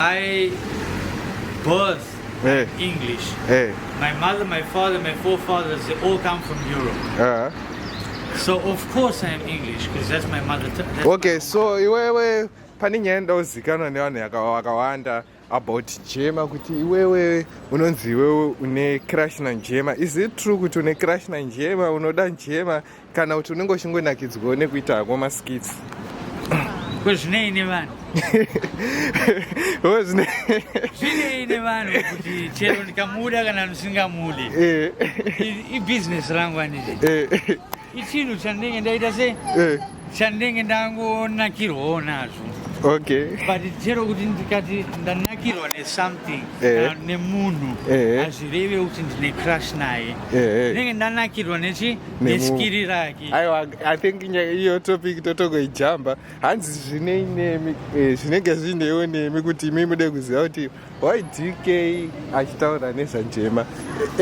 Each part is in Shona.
I birth hey. English. Hey. My mother, my father, my forefathers, they all come from Europe. Uh -huh. So of course I am English because that's my mother. That's okay, my so iwewe pane nyaya ndauzikanwa nevanhu vakawanda about jema kuti iwewe unonzi iwewe une crash na njema is it true kuti une crash na njema unoda njema kana kuti unenge uchingonakidzwawo nekuita hako maskits kwezvinei nevanhu zvinei nevanhu kuti chero ndikamuda kana ndisingamude eh. ibhizinesi rangu anditi eh. ichinhu chandinenge ndaita se eh. chandinenge ndangonakirwawo nazvo okay but chero kuti ndikati ndanakirwa nesomething kana nemunhu hazvireve kuti ndine crush naye ndinenge ndanakirwa nechi aiwa i think iyo topic totogoijamba hanzi zvinei nemi eh, zvinenge zvineiwo nemi kuti imi mude kuziva kuti why dk achitaura nezvanjema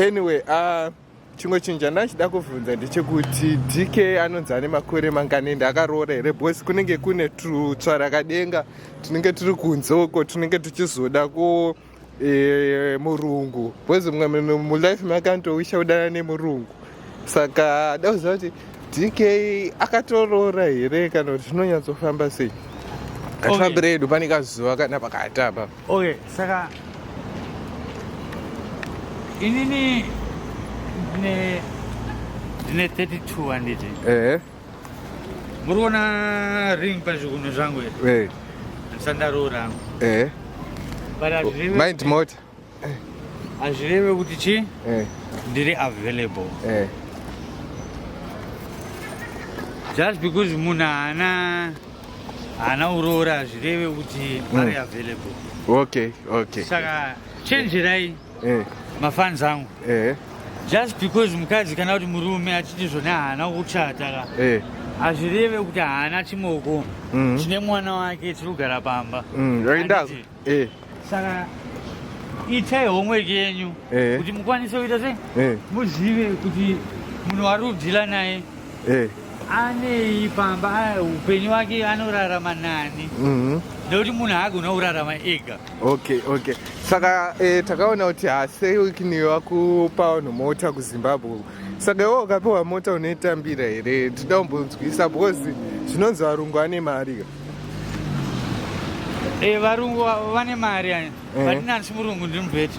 anyway uh, chimwe chinhu chandachida kuvhunza ndechekuti dk anonzi ane makore mangani ende akaroora here bcause kunenge kune tutsvarakadenga tunenge turi kunze uko tunenge tuchizoda ku Eh, murungu bcoz mumwe mulife makantowisha kudana nemurungu saka dauziva kuti dk akatoroora here kana kuti zvinonyatsofamba sei katifambire edu pane kazuva kana pakati apa okay saka inini ndine 32 handiti ehe muri kuona ring pazvigunwe zvangu here ndisandaroora hangu mind mota hazvireve kuti chi ndiri available just because munhu haana haana uroora hazvireve kuti mm. ari available okay okay saka chenjerai eh. mafans angu eh. just because mukadzi kana kuti murume achiti zvone haana kuchata ka eh. hazvireve kuti haana chimoko mm. chine mwana wake chiri kugara pamba mm, eh. saka itai homework yenyu eh. kuti mukwanise kuita se eh. muzive kuti munhu wari kudhila naye eh. anei pamba upenyu wake anorarama nani mhm. nekuti munhu haagona kurarama ega okay okay saka eh, takaona kuti haseikiniwe wakupa vanhu mota kuzimbabwe saka iwo ukapiwa mota unoitambira here tida kumbonzwisa because zvinonzi varungu vane mari ka e, varungu vane mari ani eh. but nani simurungu ndiri mubheti